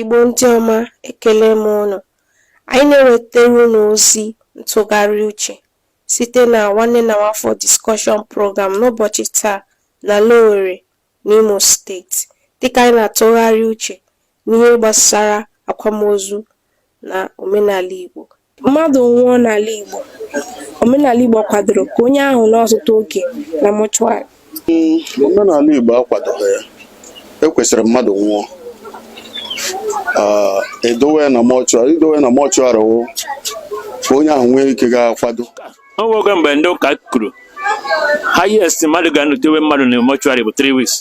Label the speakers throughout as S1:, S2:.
S1: Igbo ndị ọma ekele m ụnụ. Anyị na-ewetara ụnụ ozi ntụgharị uche site na Nwanne na Nwafọ Discussion Program n'ụbọchị taa n'ala Owere n'Imo steeti dịka anyị na-atụgharị uche n'ihe gbasara akwamozu na omenala Igbo Mmadụ nwụọ n'ala Igbo, omenala Igbo kwadoro ka onye ahụ nọ ọtụtụ oge na mọchụarị. Hmm, omenala Igbo akwadoghị ya e kwesịrị mmadụ nwụọ ah, edowe na mọchụarị idowe na mọchụarị wụ ka onye ahụ nwee ike ga-akwado o nwego mgbe ndị ụka kwuru highest mmadụ ga-anọtewe mmadụ na mọchụarị bụ 3 weeks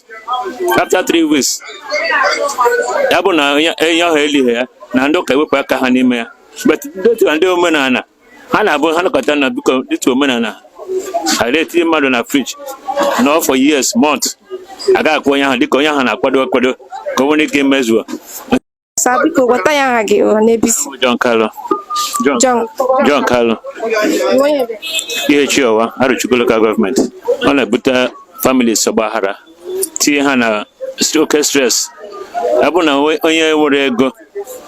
S1: after 3 weeks ya bụ na onye ahụ elighị ya na ndị ụka ewepụ aka ha n'ime ya but due to ndị omenala ha na-abụ ha nakọta na biko due to omenala ha na-etinye mmadụ na friji nọ for years month a ga-akwa onye ahụ dịka onye ahụ na-akwado akwado ka o nwee ike imezuo sir biko gwatụ anyị aha gị na ebe i si John Kalu John John John Kalu Ihechiọwa Arọchukwu lokal gọọmenti ọ na-ebute families ọgbaghara tinye ha na oke stres ọ bụrụ na onye enwero ego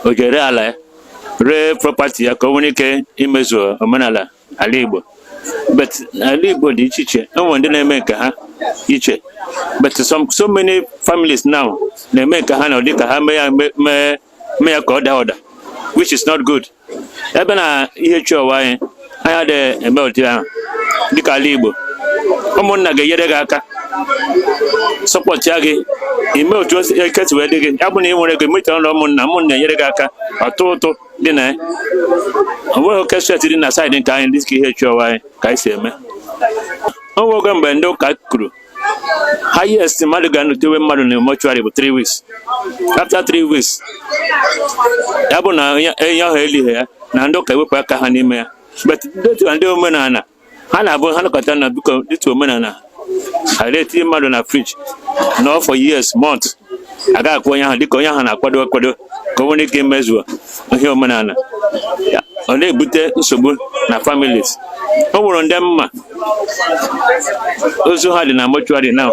S1: o je ree ala ya ree prọpati ya ka o nwee ike imezu omenala ala Igbo but ala Igbo dị iche iche e nwere ndị na-eme nke ha iche but some so many families now na-eme nke ha na ụdị ka ha mee ya mee ya ka ọ daa ụda which is not good ebe na Ihechiọwa anyị anyị adịghị eme otu ahụ dịka ala Igbo ụmụnna ga-enyere gị aka sọpọtịa gị ime otu ike si wee dị gị ya bụ na ị nwere ego mita ọrụ ụmụnna ụmụnna enyere gị aka atụọ ụtụ dị na ya ọ nweghị oke seti dị na saịdị nke anyị dịka Ihechiọwa anyị ka anyị si eme o nwego mgbe ndị ụka kwuru highest mmadụ ga-anotewe mmadụ na mọchụarị bụ 3 weeks after 3 weeks ya bụ na onye ahụ elighị ya na ndị ụka ewepụ aka ha n'ime ya but due to ndị omenala ha na-abụ ha nọkọta na biko due to omenala ha etinye mmadụ na friji nọ for years month a ga-akwa onye ahụ dịka onye ahụ na-akwado akwado ka o nwee ike imezuo ihe omenala ọ na-ebute nsogbu na families o nwere ndị m ma ozu ha dị na mọchụarị na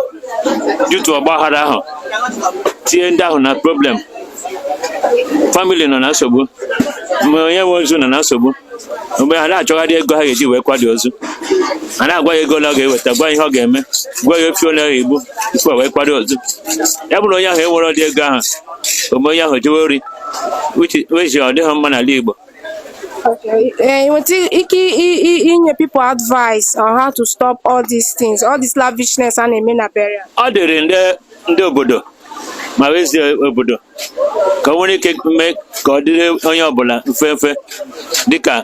S1: due to ọgbaghara ahụ tinye ndị ahụ na problem famili nọ na nsogbu ma onye nwe ozu nọ na nsogbu mgbe ha na-achọgharị ego ha ga-eji wee kwado ozu a na-agwa ya ego ole ọ ga-eweta gwa ihe ọ ga-eme gwa ya efi ole ọ ga-egbu tupu wee kwado ozu ya bụrụ onye ahụ enwero ụdị ego ahụ o mee onye ahụ jewe ori which ọ dịghị mma n'ala Igbo eh, nweta ike inye people advice on how to stop all these things all this lavishness a na-eme na burial ọ dịrị ndị ndị obodo ma eze obodo ka o nwere ike mee ka ọ dịrị onye ọbụla mfe mfe dịka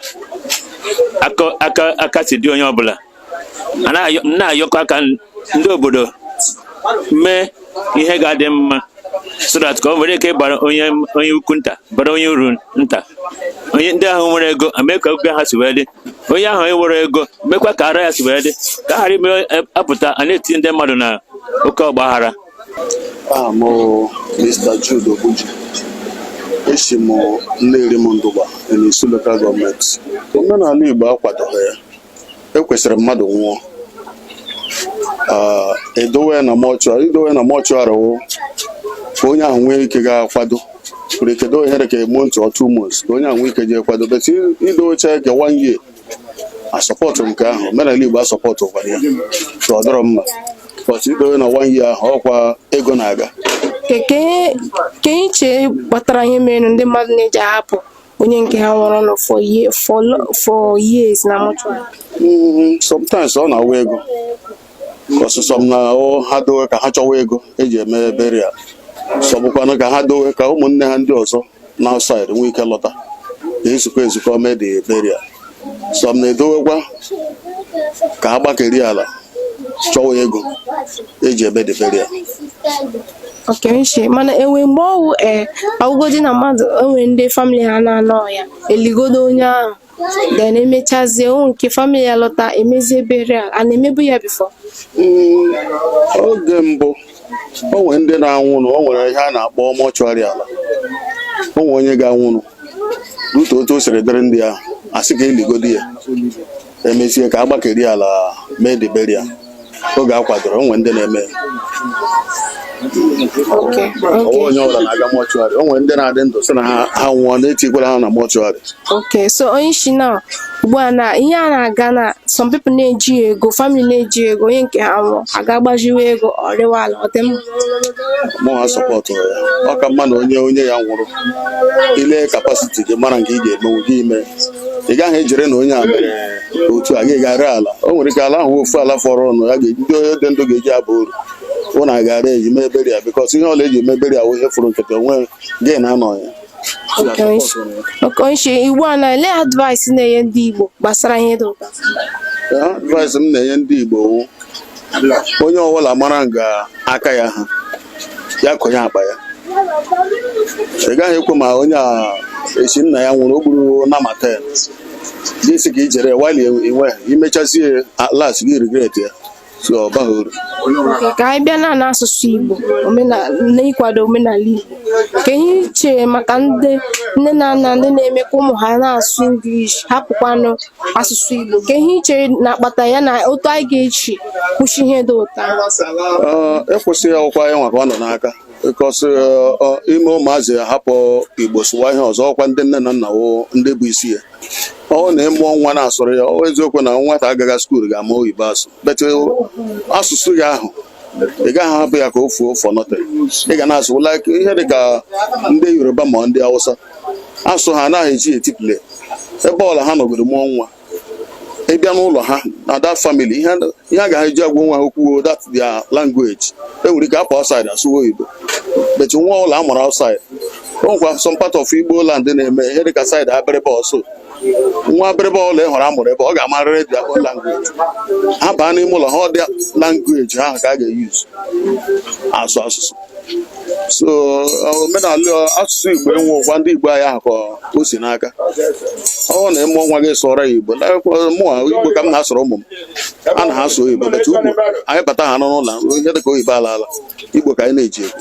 S1: aka si dị onye ọbụla na-ayọkọ aka ndị obodo mee ihe ga-adị mma so that ka o nwere ike ịbara onye ukwu nta bara onye uru nta onye ndị ahụ nwere ego mee ka aka ha si wee dị onye ahụ enwerọ ego mekwa ka aka ya si wee dị ka a ghara ime apụta a na-etinye ndị mmadụ na oke ọgbaghara aha m bụ Mr. Jude Obuji esi m Nnerim Ndụgba n'Isu lokal gọọmenti omenala Igbo akwadoghị ya ekwesịrị mmadụ nwụọ Ah, edowe ya na mọchụarị idowe ya na mọchụarị wụ ka onye ahụ nwee ike ga-akwado nwere ike doo ihe dị ka a month or two months ka onye ahụ nwee ike jee kwado but idocha ka one year asọpọtụ nke ahụ omenala igbo asọpọtụkwara ya so ọ dịrọ mma but idowe na one year ahụ ọkwa ego na-aga Ke- ke- ke ihe i chee kpatara ihe mere ndị mmadụ na-eji ahapụ onye nke ha nwụrụ nụ for ye- for lo- for years na mortuary Mm, sometimes ọ na-awa ego cos some na ọ- ha dowe ka ha chọwa ego eji eme burial some bụkwanụ ka ha dowe ka ụmụnne ha ndị ọzọ na outside nwee ike lọta ka e zukọ ezukọ mee the burial some na-edowekwa ka ha gbakeri ala chọwa ego eji eme the burial Okay sir mana enwe mgbe ọwụ ee awụgodi na mmadụ o nwere ndị famili ha na-anọ ya eligodo onye ahụ then emechazie o nke famili ya lọta emezie burial a na-emebu ya before Mm, oge mbụ o nwere ndị na-anwụnụ o nwere ihe a na-akpọ mọchụarị ala o nwere onye ga-anwụnụ n'otu otu o siri dịrị ndị ahụ asị ka eligodi ya emezie ka agbakeri ala mee the burial oge a kwadoro o nwe ndị na-eme ọwa onye ọbụla na-aga mọchụarị o nwe ndị na-adị ndụ sị na ha ha nwụọ na etikwala ha na mọchụarị Okay, so onye isi na ugbu a na ihe a na-aga na some people na-eji ego family na-eji ego onye nke ha nwụọ aga gbaziwe ego erewe ala ọ dị mma mụ asọpọtụ ya ọ ka mma na onye onye ya nwụrụ i lee capacity gị mara nke ị ga-emenwu gị ime ị gaghị ejere na onye a mere otu a gị ga ree ala o nwere ike ala ahụ ofu ala fọrọ ọnụ ya ga-eji ndị onye dị ndụ ga-eji aba uru unu a ga ree ji mee burial because ihe ọbụla eji mee burial wụ ihe furu nkịtị onwe gị na-anọ ya Okay sir. Okay sir ugbu a na olee advice ị na-enye ndị Igbo gbasara ihe dị otu a. advice m na-enye ndị Igbo wụ, onye ọbụla mara nga aka ya ha ya konye akpa ya ị gaghị ekwu ma onye a si nna ya nwụrụ o gburu nama ten gị si ka i je rewa ala i nwe imechazie at last gị regret ya so ọ baghị uru Oke, ka anyị bịa na n'asụsụ Igbo omenala n'ịkwado omenala Igbo kee ihe i chere maka ndị nne na nna ndị na-eme ka ụmụ ha na-asụ English hapụkwanụ asụsụ Igbo kee ihe i chere na-akpata ya na otu anyị ga-eji kwụsị ihe dị otu a Ee, ịkwụsị ya ọkwa anyị nwa ka ọ nọ n'aka ịkwụsị ime ụmụazị ya hapụ igbo sụwa ihe ọzọ ọkwa ndị nne na nna wụ ndị bụ isi ya ọ wụ na ị mụọ nwa na-asụrụ ya ọ eziokwu na nwata agagha skuul ga-ama oyibo asụ but asụsụ gị ahụ ị gaghị ahapụ ya ka o fuo for nothing ị ga na-asụ like ihe dị ka ndị yoruba ma ndị hausa asụ ha anaghị eji eti play ebe ọla ha nọgoro mụọ nwa ị bịa n'ụlọ ha na that family ihe ihe a ga-eji agwa onwe ha okwu ọ that their language e nwere ike apụọ outside asụwa oyibo but nwa ọla a mụrụ outside o nwekwa some part of igbo land na-eme ihe dịka side abịrịba so nwa abịrịba ọla ị hụrụ amụrụ ebe ọ ga-amarịrị their own language ha baa n'ime ụlọ ha ọ that language ahụ ka a ga-eyuz asụ asụsụ so omenala asụsụ igbo enwe ụgwa ndị igbo anyị ahụ ka o si n'aka ọ na ị mụọ nwa gị sụọrọ ya igbo mụwa igbo ka m na-asụrụ ụmụ m a na ha asụ oyibo but ugbu anyị bata ha n'ụlọ ihe dịka oyibo alaala igbo ka anyị na-eji ekwu